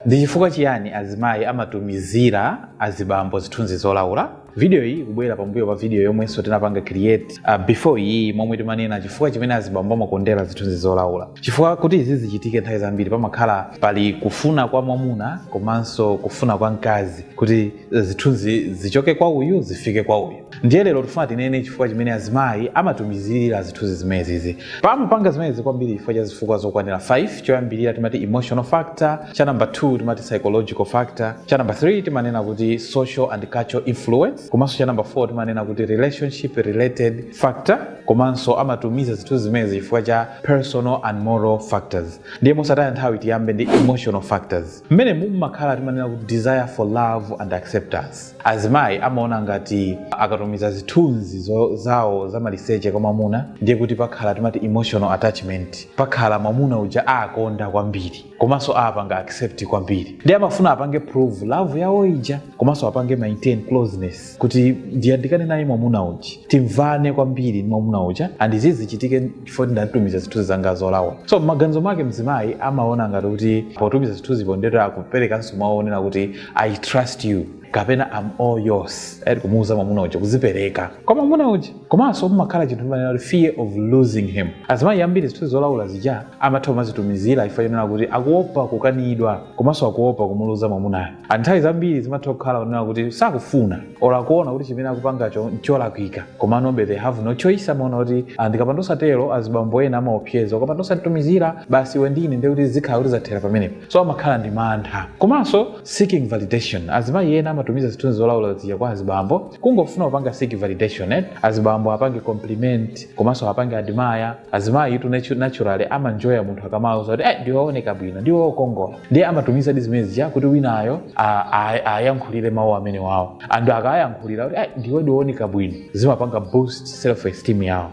Ndi chifukwa chiyani azimayi amatumizira azibambo zithunzi zolaula? Video iyi ikubwera pambuyo pa video yomwenso tinapanga create uh, before iyi momwe timanena chifukwa chimene azibambo amakondera zithunzi zolaula. Chifukwa kuti izi zichitike nthawi zambiri pamakhala pali kufuna kwa mwamuna komanso kufuna kwa mkazi kuti zithunzi zichoke kwa uyu zifike kwa uyu ndiye lero tifuna tinene chifukwa chimene azimayi amatumizira zithunzi zimenezi amapanga zimenezi kwambiri chifukwa cha zifukwa zokwanira 5 choyambirira timati emotional factor cha number 2 timati psychological factor cha number 3 timanena kuti social and cultural influence komanso cha number 4 timanena kuti relationship related factor komanso amatumiza zithunzi zimenezi chifukwa cha personal and moral factors ndiye mosataya nthawi tiyambe ndi emotional factors Mmenemu mumakhala timanena kuti desire for love and acceptance. Azimayi amaona ngati akatumiza zithunzi zo, zawo zamaliseche kwa mwamuna ndiye kuti pakhala timati emotional attachment, pakhala mwamuna uja aakonda kwambiri komanso aapanga accept kwambiri ndiye amafuna apange prove love yawo ija komanso apange maintain closeness kuti ndiyandikane naye mwamuna uja, timvane kwambiri ndi mwamuna uja and izi zichitike chifukwa ndamutumizira zithunzi zanga zolaula so maganizo mwake mzimayi amaona ngati kuti potumiza zithunzi ndiye kuti akuperekanso maonera kuti i trust you kapena am all yours ati kumuuza mwamuna uja kuzipereka kwa mwamuna uja komanso kumakhala chinthu timanena kuti fear of losing him azimayi ambiri zithunzi zolaula zija amatha kumazitumizira chifukwa chonena kuti akuopa kukanidwa komanso akuopa kumuluza mwamunayo Ah, nthawi zambiri zimatha kukhala kunena kuti sakufuna or akuona kuti chimene akupangacho ncholakwika komanobe they have no choice amaona kuti ah, ndikapanda osatero azibambo ena amaopseza ukapanda osanditumizira basi iwe ndi ine ndiye kuti zikhala kuti zathera pamenepo so amakhala ndi mantha komanso seeking validation azimayi ena amatumiza zithunzi zolaula zija kwa azibambo kungofuna kupanga seek validation eh? azibambo apange compliment komanso apange admire azimayitu natu- naturally amanjoya munthu akamauza kuti eh, ndiwooneka bwino ndiwokongola ndiye amatumizadi zimene zija kuti winayo a- a- ayankhulire mawu amenewawo and akawayankhulira kuti "Ai, ndiwe ndiwooneka bwino zimapanga boost self esteem yawo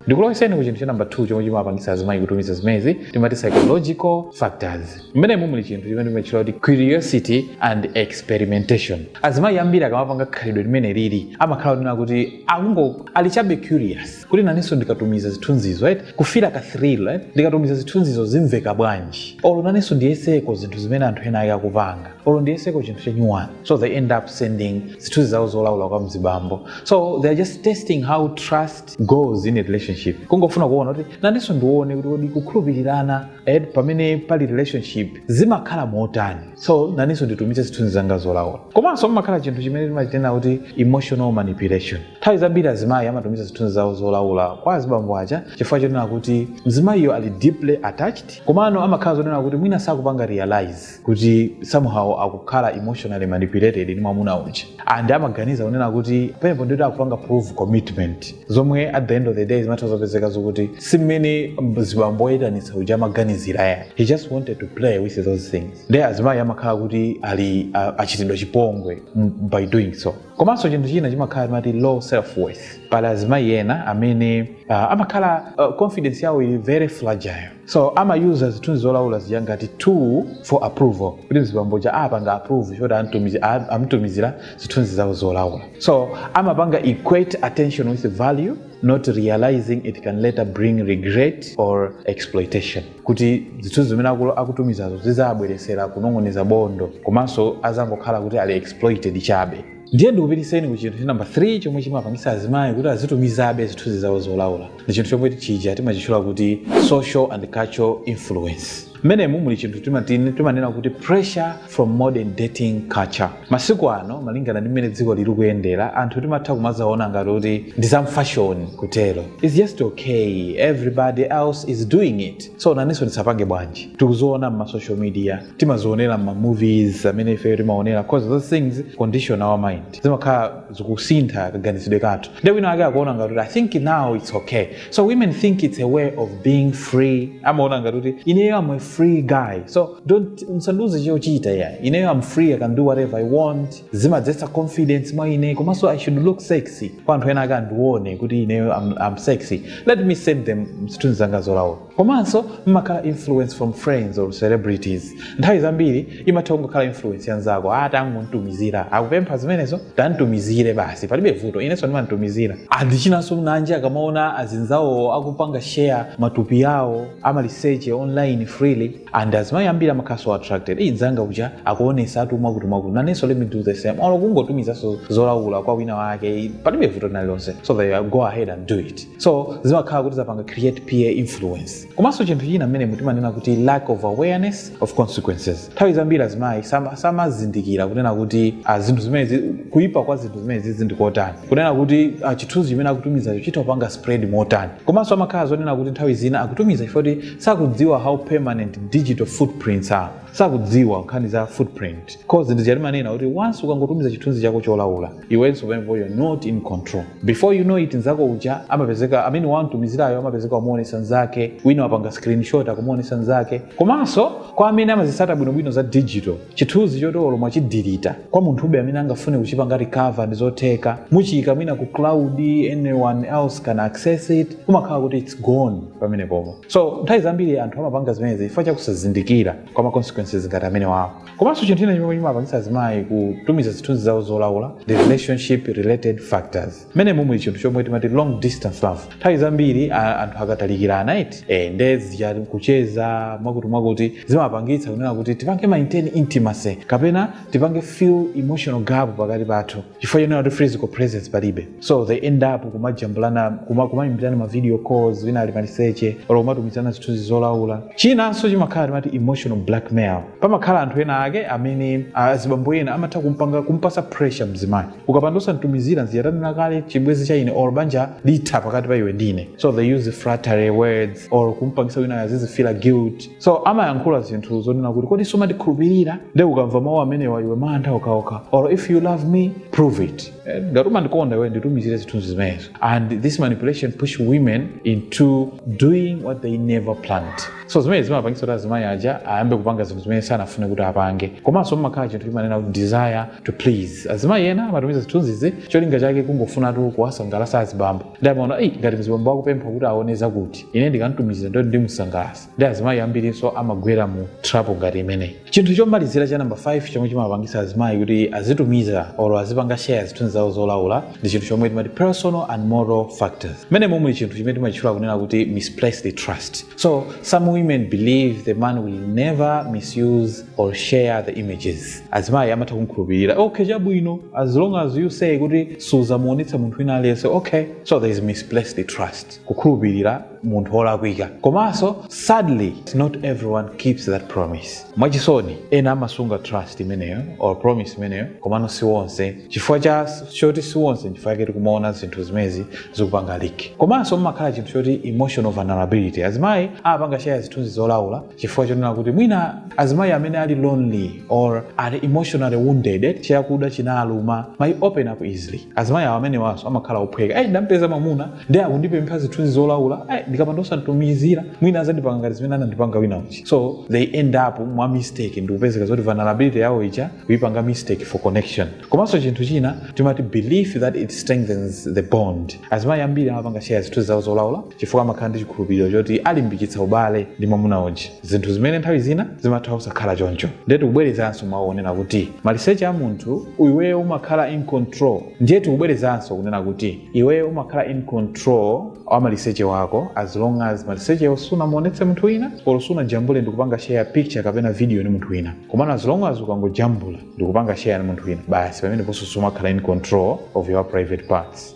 ndikuloweseni ku chinthu cha namba 2 chomwe chimapangisa azimayi kutumiza zimezi timati psychological factors mmenemu muli chinthu chimene timatchula kuti curiosity and experimentation azimayi ambiri akamapanga khalidwe limeneli amakhala onena kuti akungo ali chabe curious kuti nanenso ndikatumiza zithunzizo right kufira ka thrill right ndikatumiza zithunzizo zimveka bwanji olo nanenso ndiyeseko zinthu zimene anthu ena ake akupanga olo ndiyeseko chinthu chanyuwani so they end up sending zithunzi zawo zolaula kwa mzibambo so they are just testing how trust goes in a relationship kungofuna kuona kuti nanenso ndione kuti kodi kukhulupirirana pamene pali relationship zimakhala motani so nanenso nditumize zithunzi zanga zolaula komanso mumakhala chinthu chimene timachinena kuti emotional manipulation Nthawi zambiri azimayi amatumiza zithunzi zawo zolaula kwa azibambo aja chifukwa chonena kuti mzimayiyo ali deeply attached komano amakhala zonena kuti mwina sakupanga realise kuti somehow akukhala emotionally manipulated ndi mwamuna uja and amaganiza kunena kuti pamenepo ndikuti akupanga prove commitment zomwe at the end of the day zimatha zopezeka zokuti si mmene mzibambo oyitanitsa uja amaganizira ya he just wanted to play with those things nde azimayi amakhala kuti ali a- achitidwa chipongwe m- by doing so komanso chinthu china chimakhala timati low self worth pali azimayi ena amene uh, amakhala uh, confidence yawo ili very fragile so ama use zithunzi zolaula zija ngati tool for approval kuti mzibambo uja awapanga approve choti amtumizi- a- amtumizira zithunzi zawo zolaula so amapanga equate attention with value not realizing it can later bring regret or exploitation kuti zithunzi zimene aku- akutumizazo zidzawabweretsera kunong'oneza bondo komanso azangokhala kuti ali exploited chabe ndiye ndikupititseni ku chinthu cha namba 3 chomwe chimapangitsa azimayi kuti azitumizabe zithunzi zawo zolaula ndi chinthu chomwe chija timachitchula kuti social and cultural influence mmenemu muli chinthu timatini timanena kuti pressure from modern dating culture Masiku ano malingana ndi mmene dziko likuyendera anthu timatha kumazaona ngati kuti ndi za mfashoni kutero its just okay everybody else is doing it so nanenso ndisapange bwanji tikuzaona mma social media timazionera mma movies amene ifeyo timaonera cause those things condition our mind zimakhala zikusintha kaganizidwe kathu nde wina ake akuona ngati kuti i think now it's okay so women think it's a way of being free amaona ngati kuti ineyo am a free guy so don't musandiuze chochita ya ineyo am free i can do whatever i want zimadzetsa confidence mwa ine komanso i should look sexy kwa anthu ena akandione kuti ineyo am, am sexy let me send them zithunzi zanga zolaula komanso mmakhala influence from friends or celebrities nthawi zambiri imatha kungokhala influence ya anzako tangomtumizira akupempha zimenezo tamtumizire basi palibe vuto inenso ndimamtumizira and chinanso nanji akamaona azinzawo akupanga share matupi awo amaliseche online freely and azimayi ambiri amakhala so attracted eyi mnzanga uja akuonesatu mwakuti mwakuti nanenso let me do the same olo kungotumizanso zolawula kwa wina wake palibe vuto linalilonse so they go ahead and do it so zimakhala kuti zapanga create peer influence komanso chinthu china mmenemo timanena kuti lack of awareness of consequences nthawi zambiri azimayi sama- samazindikira kunena kuti ah, zinthu zimenezi kuyipa kwa zinthu zimenezizi ndi kotani kunena kuti ah, chithunzi chimene akutumizacho chitha kupanga spread motani komanso amakhala zonena kuti nthawi zina akutumiza chifukwa kuti sakudziwa how permanent digital footprints are sakudziwa nkhani za footprint cause n'chifukwa chake timanena kuti once ukangotumiza chithunzi chako cholawula iwenso pamenepo you're not in control before you know it nzako uja amapezeka amene wamtumizirayo amapezeka wamuonesa nzake wina wapanga screenshot akumuonesa nzake komanso kwa amene amazitsata bwinobwino za digital chithunzi choti olo mwachidilita kwa munthu ube amene angafune kuchipanga recover ndi zotheka muchiyika mwina ku cloud anyone else can access it kumakhala kuti its gone pamenepo pomwo so nthawi zambiri anthu amapanga zimenezi chifukwa chakusazindikira kwa ma consequences ngati amenewawo komanso chinthu china chimene chimapangitsa azimayi kutumiza zithunzi zawo zolaula the relationship related factors mmenemo muli chinthu chomwe timati long distance love nthawi zambiri a- anthu akatalikirana eti nde zija kucheza mwakuti mwakuti zimapangitsa kunena kuti tipange maintain intimacy kapena tipange fill emotional gap pakati pathu chifukwa chonena kuti physical presence palibe so they end up kumajambulana kuma- kumaimbirana ma video calls wina ali maliseche olo kumatumizana zithunzi zolaula chinanso chimakhala timati emotional blackmail pamakhala anthu ena ake amene azibambo ena amatha kumpanga kumpasa pressure mzimayi ukapanda osanditumizira nziyatanira kale chibwezi cha ine or banja litha pakati pa iwe ndine so they use flattery words or kumpangisa wina azizifila guilt so amayankhula zinthu zonena kuti kodi sumandikhulupirira nde ukamva mawu amenewa iwe mantha okhaokha or if you love me prove it ngati umandikonda iwe nditumizire zithunzi zimenezo and this manipulation push women into doing what they never planned so zimene zimapangitsa kuti azimayi aja ayambe kupanga zinthu zimene sanafune kuti apange komanso mumakhala chinthu chimene timati desire to please azimayi ena amatumiza zithunzizi cholinga chake kungofunatu kuwasangalasa azibambo ndi amaona eyi ngati mzibambo akupempha kuti aone zakuti ine ndikamtumizira ndiye kuti ndimusangalasa ndi azimayi ambirinso amagwera mu trap ngati imeneyi chinthu chomalizira cha namba 5 chomwe chimapangisa azimayi kuti azitumiza or azipanga share zithunzi zawo zolaula ndi chinthu chomwe timati personal and moral factors mmenemo muli chinthu chimene timachitchula kunena kuti misplaced trust so some women believe the man will never misuse or share the images azimayi amatha kumkhulupirira okay chabwino as long as you say kuti suzamuonetsa munthu wina aliyense okay so there is misplaced trust kukhulupirira munthu wolakwika komanso sadly not everyone keeps that promise mwachisoni ena amasunga trust imeneyo or promise imeneyo komano si wonse chifukwa choti si wonse chifukwa chake tikumaona zinthu zimezi zikupanga leak komanso mumakhala chinthu choti emotional vulnerability azimayi amapanga share zithunzi zolaula chifukwa chonena kuti mwina azimayi amene ali lonely or ali emotionally wounded chiyakuda chinaluma may open up easily azimayi amenewanso amakhala ophweka ndampeza mamuna ndi akundipempha zithunzi zolaula ndikapanda osamtumizira mwina azandipanga ngati zimene anandipanga wina uja so they end up mwa mistake ndikupezeka zoti vulnerability yawo ija kuipanga mistake for connection komanso chinthu china timati belief that it strengthens the bond azimayi ambiri amapanga share zithunzi zawo zolaula chifukwa amakhala ndi chikhulupiriro choti alimbikitsa ubale ndi mwamuna uja zinthu zimene nthawi zina zimatha kusakhala choncho ndiye tikubwerezanso mawu onena kuti maliseche a munthu iweyo umakhala in control ndiye tikubwerezanso kunena kuti iweyo umakhala in control wa maliseche wako as long as malisechewo sunamuonetse munthu wina or sunajambule ndikupanga share picture kapena video ndi munthu wina komano as long as ukangojambula ndikupanga share ndi munthu wina basi pameneponso sumakhala in control of your private parts